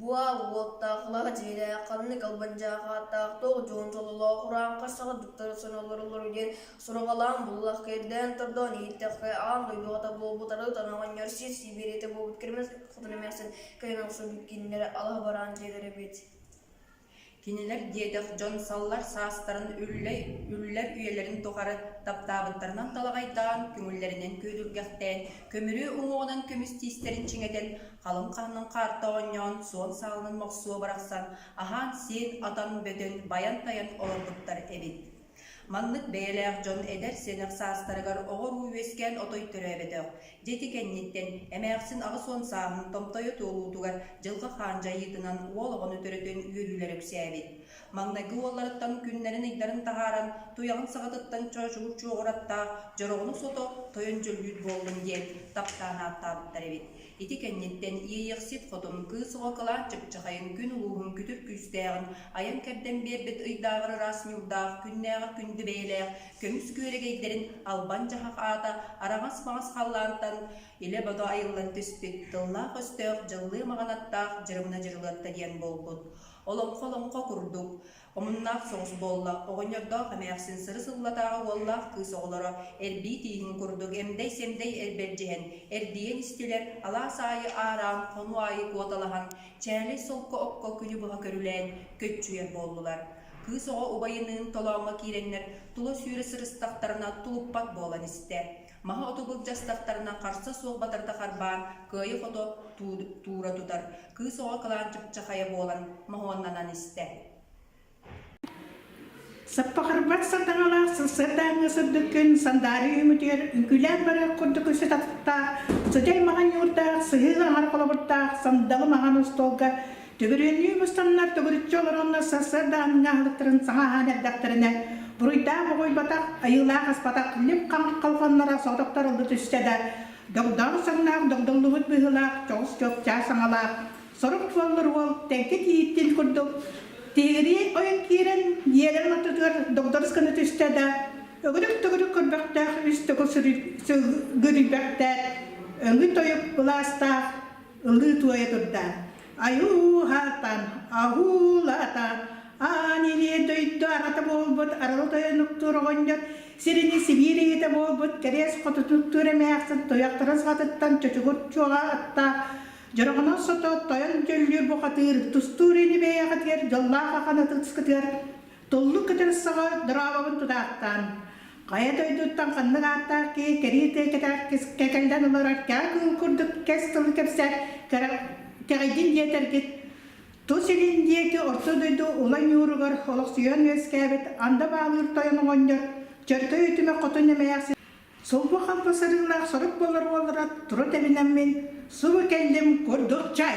Буоал уоттаах, лаҕа дьиэлээх, ханнык албан дьаахааттаах, туох дьуон дьололоох, ураан харсаҕа дуттара сонолоро олору диэн сураҕалаан буллах кэрдээн тордоон иһиттэххэ аан дойдуҕата буолбут арыы тан оҕонньор сир сибириэтэ буолбут кирмэс хотон эмээхсин кыйан охсор бүккиннэрэ алаһа бараан дьиэлэрэ эбит Кинилэр диэтэх дьон саллар саастарын үллэй үллэр үйэлэрин тухары таптаабыттарынан талаҕайдаан, көҥүллэринэн күөдүргэхтээн, көмүрүө уҥуоҕунан көмүстиистэрин чиҥэтэн, халыҥ хаанын хаарта оонньоон, суон саалынан мохсуо барахсан аһаан-сиэн, атан-бөтөн, байан-тайан олорбуттар эбит Маннык бэйэлээх дьон эдэр-сэнэх саастарыгар оҕо-уруу үөскээн отой төрөөбөтөх, дьэти кэнниттэн, эмээхсин аҕыс уон сааһын томтойо туолуутугар дьылҕа хаан дьайыытынан уол оҕону төрөтөн үөрүүлэрэ үксээбит. Маҥнайгы уолларыттан күннэрин-ыйдарын таһааран туйаҕын саҕатыттан чочул чуоҕураттаах дьороҕунук сото тойон дьөллүүт буоллум диэн таптаан ааттаабыттар эбит. Ити кэнниттэн иэйэхсит хотон кыыс оҕо кылаан чыпчахайын күн улууһун күтүр күүстээҕин айан-кэрдэн биэрбит ыйдааҕар ыраас ньуурдаах күннээҕэр күндү бэйэлээх көмүс күөрэгэйдэрин албан-дьаһах аата араҥас-маҥас халлаантан илэ-бото айыллан түспүт тыллаах-өстөөх дьыллыы маҕан аттаах дьырымына дьырылатта диэн буолбут олоҥхо олоҥхо курдук Омуннаах соҕус буолла. Оҕонньордоох эмээхсин сыры-сыллатааҕы уоллаах кыыс оҕолоро эрбии тииҥин курдук эмдэй-сэмдэй эрбэрдьиһэн, эрдийэн истилэр, алаас аайы аараан, хонуу аайы куоталаһан, чээлэй солко-окко күнү быһа көрүлээн, көччүйэр буоллулар. Кыыс оҕо убайыныын толооҥҥо киирэннэр, тула-сүүрэ сырыстахтарына тулуппат буолан истэ. Маһы оту былдьастахтарына харса суох батарда харбаан, кыайы хото туура тутар, кыыс оҕо кылаанчыкчахайа буолан моһуоннанан истэ. Саппахырбат сатаҥалаах сырсыаттааҥҥа сырдыккын сандаарыы үмүтүгэр үҥкүүлээн барар курдук үсү татыктаах, сыдьай маҕан ньуурдаах, сыһыы аҥар холобурдаах сандалы маҕан устуолга Төгүрүөннүү мустаннар төгүрүччү олороннор сарсыарда аһыҥа аһылыктарын саҥа аһаан эрдэхтэринэ, буруйдаах угуйбатах, айыылаах аспатах лип-хаҥх колхоннара соҕотохтор ылла түстэ да, догдоон саҥнаах догдуллубут быһыылаах дьоҕус чуопчаас саҥалаах сорук буоллар уол тэҥкэ тииһиттиин курдук тиһигирии ойон киирэн ньиэлэрин ортотугар догдорус гына түстэ да, өгүрүк-төгүрүк көрбөхтөөх үс төгүл сырыгырыйбэхтээт, өҥү тойук былаастаах ылыы туойа турдаан, Айуу-һаартаан, аһуу-лаата, аан илиэ дойду аҕата буолбут арылы тойон уктуур оҕонньор сирини Сибиир ийэтэ буолбут кэриэс хотутун уктуур эмээхсин туйахтарын саҕатыттан чочугур чуоҕа аттаах дьороҕунан сото тойон дьөллүүр бухатыыр тустуур ини бэйэҕитигэр дьоллоох ахан ытыскытыгар Туллук кытын саҕа дорообобун тутаахтаан! Хайа дойдуттан ханнык ааттаах киһи кэрии тиэкэтээх кэкэлдэн олорор кэҕэ кыыл курдук кэс тылы кэпсэт, кэҕийдин диэтэргит, тус илин диэки орто дойду ула ньууругар олохсуйан үөскээбит анда баалыыр тойон оҕонньор чөркөй үтүмэ хотун эмэйэх сулбу-хампа сырыылаах сорук буолар уоллара тура тэбинэммин субу кэллим курдук чай